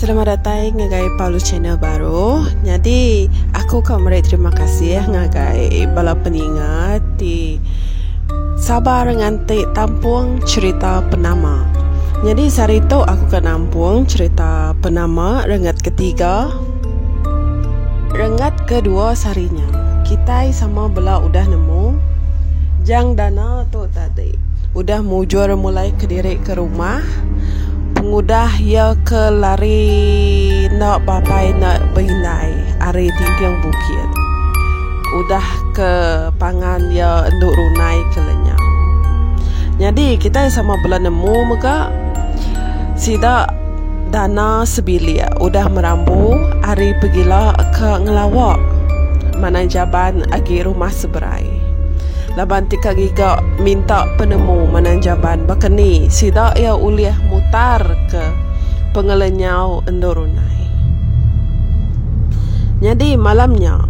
Selamat datai ngagai Palu Channel baru. Nyadi aku ka meri terima kasih ngagai bala peninga ti sabar nganti tampung cerita penama. Nyadi sehari tu aku ka nampung cerita penama rengat ketiga. Rengat ke dua sehari nya, kitai sama bela udah nemu Jang Dana tu tadi udah mujur mulai kediri ke rumah pengudah iya ke lari enda papai enda beindai ari dinding bukit udah ke pangan iya enda runai ke lenyau. Nyadi kitai sama bela nemu mega sida. Dana sebilik udah merambu ari pegila ke ngelawa manang jaban agi rumah seberai. Laban ti ka ngiga minta penemu manang jaban baka ni sida iya ulih mutarka pengelenyau endur unai. Nyadi malam nya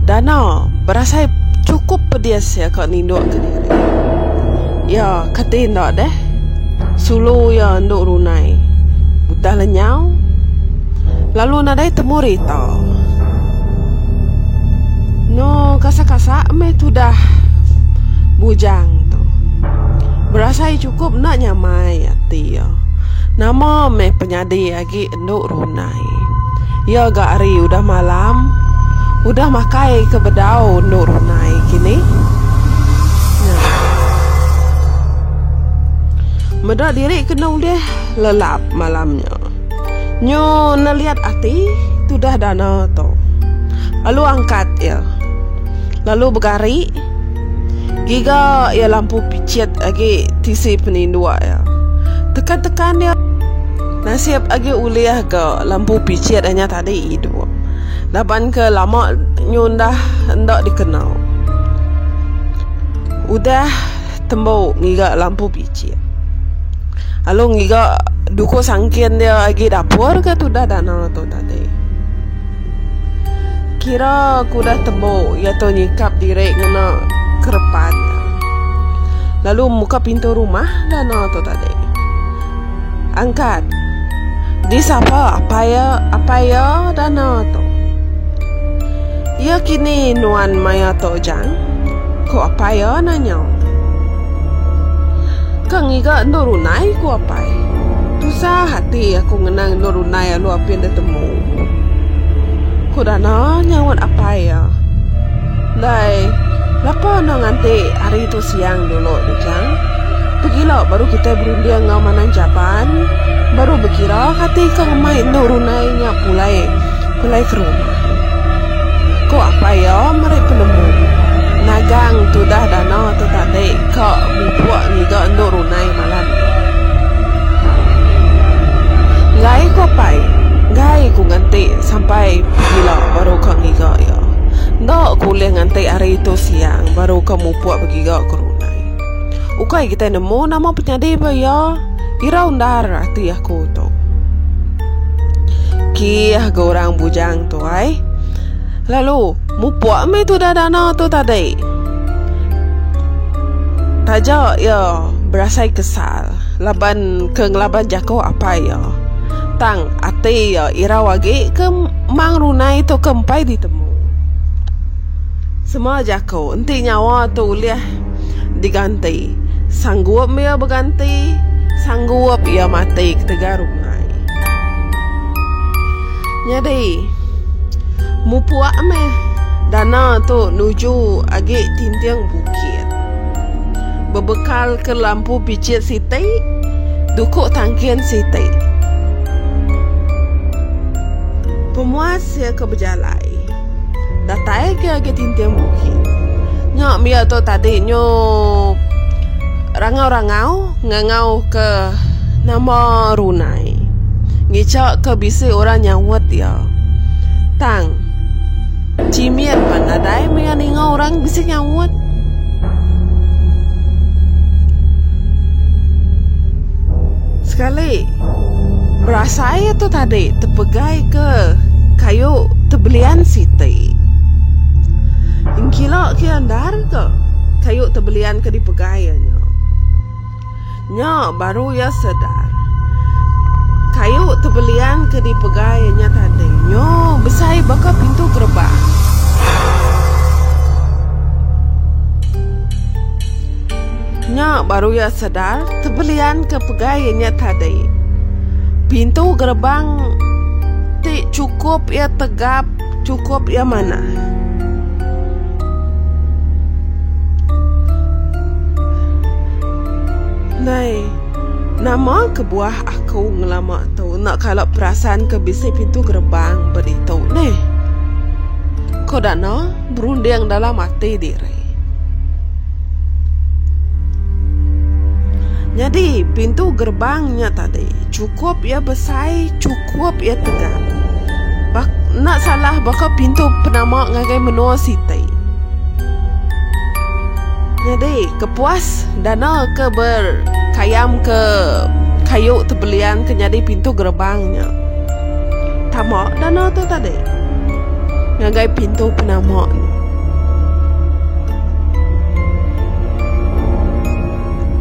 Dana berasai chukup pedis iya ka nindukka diri. Iya kati enda deh. Sulu iya endo runai udah le nyau lalu nadai temu rita. No kasa-kasa meh tudah bujang tu. Berasai chukup enda nyamai ati iya. Nama meh penyadi agi. Endok Runai. Ya ga ari udah malam. Udah makai ke bedau Endok Runai kini. Nya. Meda diri kena ulih lelap malam nya. Nyu neliat ati tudah dana tu. Lalu angkat iya. Lalu begari. Giga iya lampu pichit agi tisi peninduk iya. Tekan-tekan iya. Nasib agi ulih ga lampu pichit anya tadi idup. Laban ke lama nyundah enda dikena. Udah tembu ngiga lampu pichit. Lalu ngiga duku sangkin dia agi dapur ke tudah dana tu tadi. Kira ku udah tembu iya tu nyikap diri ngena kerepan. Lalu muka pintu rumah dana tu tadi. Angkat. Di sapa apai iya apai iya Dana tu. Iya kini nuan maya tu Jang? ku apai iya nanya. Ke ngiga endur runai ku apai. Tusah ati aku ngenang endur runai alu apin da temu. Ku Dana nyaut apai iya. Ndai lapa enda nganti hari tu. Siang dulu tu chang. Pegilo baru kitai berunding enggau Manang Japan. Baru bekira kati ke ngemai endu runai nya pulai pulai ke rumah. Ko apai iya meri penemu. Nagang tudah dana tu tadi ka bubuk ngiga endu runai malam ni. Enggai ko apai. Enggai ku nganti sampai pegilo baru ka ngiga iya. Enda ku ulih nganti ari tu siang baru ka. Upok begiga ke runai. Ukai kitai nemu nama penyadi ba iya, irau endar ati aku tu. Kih ga orang bujang tu ai. Lalu, mupok meh tudah dana tu tadi. Taja iya berasai kesal laban ke ngelaban jaku apai iya. Tang ati iya irau agi ke mang runai tu ke empai ditemu. Sema jaku. Ko enti nyawa tu ulih diganti, sanggup ia beganti, sanggup ia mati ketegal rumai. Nyadi, mupuk meh dana tu nuju agi tinting bukit. Bebekalka lampu pichit siti, duku tangkin siti. Pemuas iya ke bejalai. Datai ke agi tinting bukit. Nya mia tu tadi nyu rangau-rangau ngangau ke nama runai. Ngicha ke bisi orang nyaut iya. Tang chimit pan nadai mia ninga orang bisi nyaut. Sekali. Berasai tu tadi tepegai ke kayu tebelian siti. Engkila ke endar ke kayu tebelian ke dipegai iya nya. Nya baru iya sedar kayu tebelian ke dipegai iya nya tadi nyu besai baka pintu gerbang. Nya baru iya sedar tebelian ke pegai iya nya tadi. Pintu gerbang ti chukup iya tegap, chukup iya manah. Nai, nama kebuah aku ngelama tu enda kala perasan ke bisi pintu gerbang ba ditu neh? Ko Dana. berunding dalam ati diri. Nyadi, pintu gerbang nya tadi cukup iya besai, cukup iya tegap. Bak, enda salah baka pintu penama ngagai menua siti. Nyadi, kepuas dana ke berkayam ke kayu tebelian ke nyadi pintu gerbang nya. Tama dana tu tadi ngagai pintu penama ni.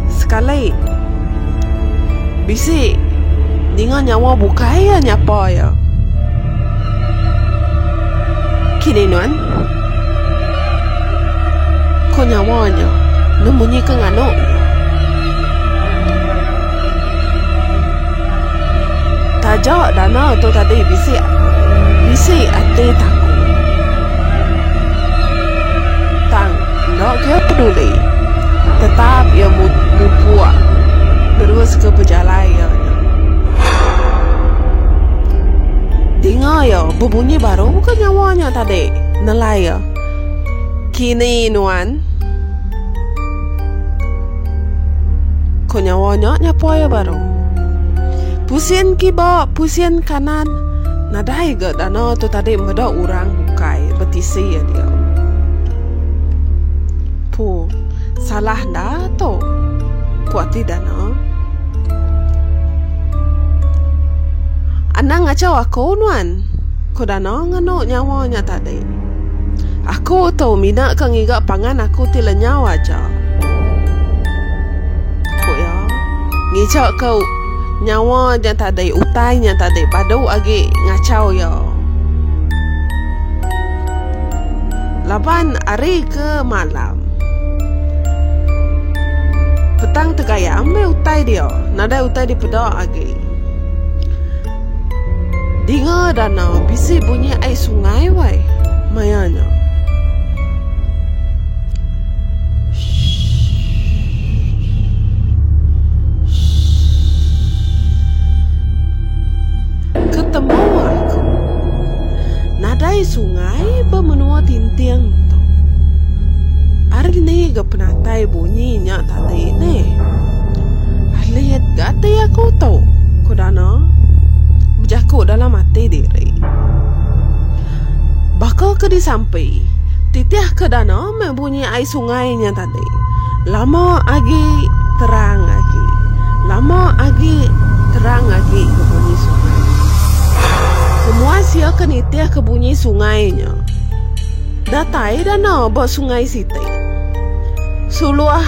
Sekali bisi ninga nyawa bukai iya nyapa iya. Kini nuan ko nyawa nya nemu nyi ke nganu iya. Taja dana tu tadi bisi bisi ati taku. Tang enda kira peduli tetap iya mupuk neruska pejalai iya nya. Dinga iya bebunyi baru ke nyawa nya tadi nelai iya. Kini nuan. Ko nyawa nya nyapoi iya baru. Pusin kiba, pusin kanan, nadai ga dana tu tadi meda orang bukai betisi iya dia. Pu, salah enda tu? Ku ati dana. Anang ngachau aku nuan, ko dana nganu nyawa nya tadi. Aku tu mina ke ngiga pangan aku ti lenyau aja, ku iya. Ngija ke nyawa nya tadi, utai nya tadi badu agi ngachau iya. Laban ari ke malam, petang tegaya meh utai dia. Nadai utai dipeda agi. Dinga danau bisi bunyi ai sungai wai maya nya. Shh shh shh. Ketemu aku. Nadai sungai ba menua Tinting tu. Ari ni ga penatai bunyi nya tadi ni. Alit ga ati aku tu, ku Dana bejaku dalam ati diri. Baka ke disampi, titihka Dana meh bunyi ai sungai nya tadi. Lama agi terang agi. Lama agi terang agi ke bunyi sungai. Semua sia ke nitih ke bunyi sungai nya. Datai dana ba sungai siti. Suluh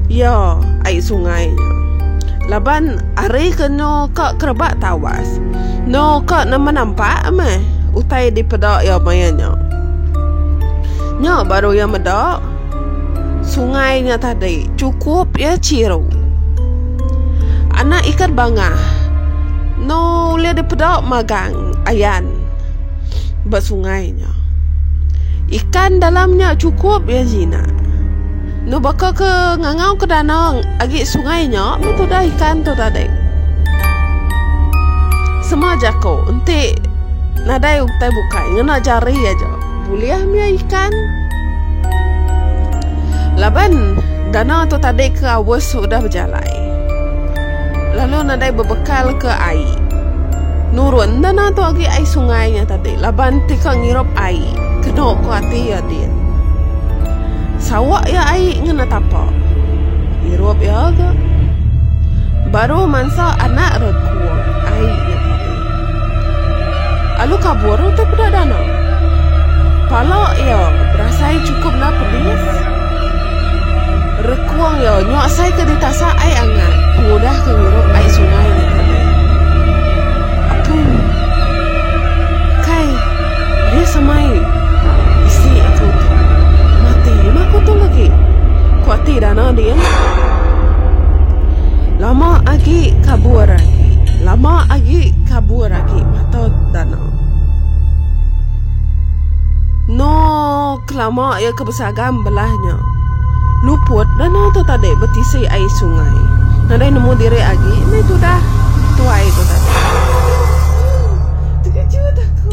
iya ai sungai nya. Laban ari ke eno ka kerebak tawas. Eno ka nama nampak meh utai dipeda iya maya nya. Nya baru iya meda sungai nya tadi chukup iya chiru. Anak ikan bangah enda ulih dipeda magang ayan ba sungai nya. Ikan dalam nya chukup iya jinak. Enda baka ke ngangau ke danau agi sungai nya meh tudah ikan tu tadi. Sema jako enti nadai utai bukai ngena jari aja. Bulih mih ikan. Laban danau tu tadi ke aus udah bejalai lalu nadai bebekal ke ai. Nurun danau tu agi ai sungai nya tadi laban ti ka ngirup ai kenu ku ati iya din. Sawa iya ai ngena tapa. Irup iya ga. Baru mansa anak rengkung ai nya tadi. Alu kabur utai peda dana. Pala iya berasai cukup enda pedis. Rekung iya nyuasai ke ditasak ai angat pengudah ke ngirup ai sungai. Apu. Kai. Dia semai, Bisi aku tu. Mati mah aku tu lagi. Ku ati Dana din. Lama agi kabur agi. Lama agi kabur agi mata Dana. No. Kelama iya ke besaga embelah nya, luput danau tu tadi betisi ai sungai. Nadai nemu diri agi, meh tudah tuai tu tadi. Tekejut aku.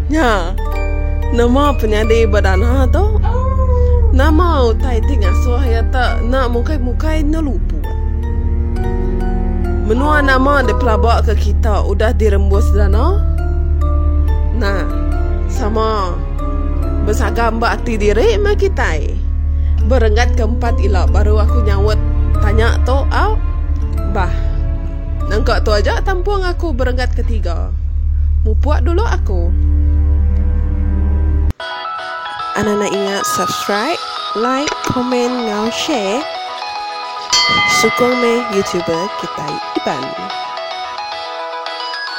Nya, nama penyadi ba dana tu? Nama utai ti ngasuh iya te enda mukai-mukai enda luput? Menua nama di pelaba ke kita udah dirembus dana? Nah, sama. Besaga amba ati diri meh kitai. Berenggat ke empat ila baru aku nyaut tanya tu au bah. Nangka tu aja tampung aku berenggat ke tiga. Mupuk dulu aku. Anang nda ingat subscribe, like, komen enggau share. Sukung meh youtuber kitai Iban.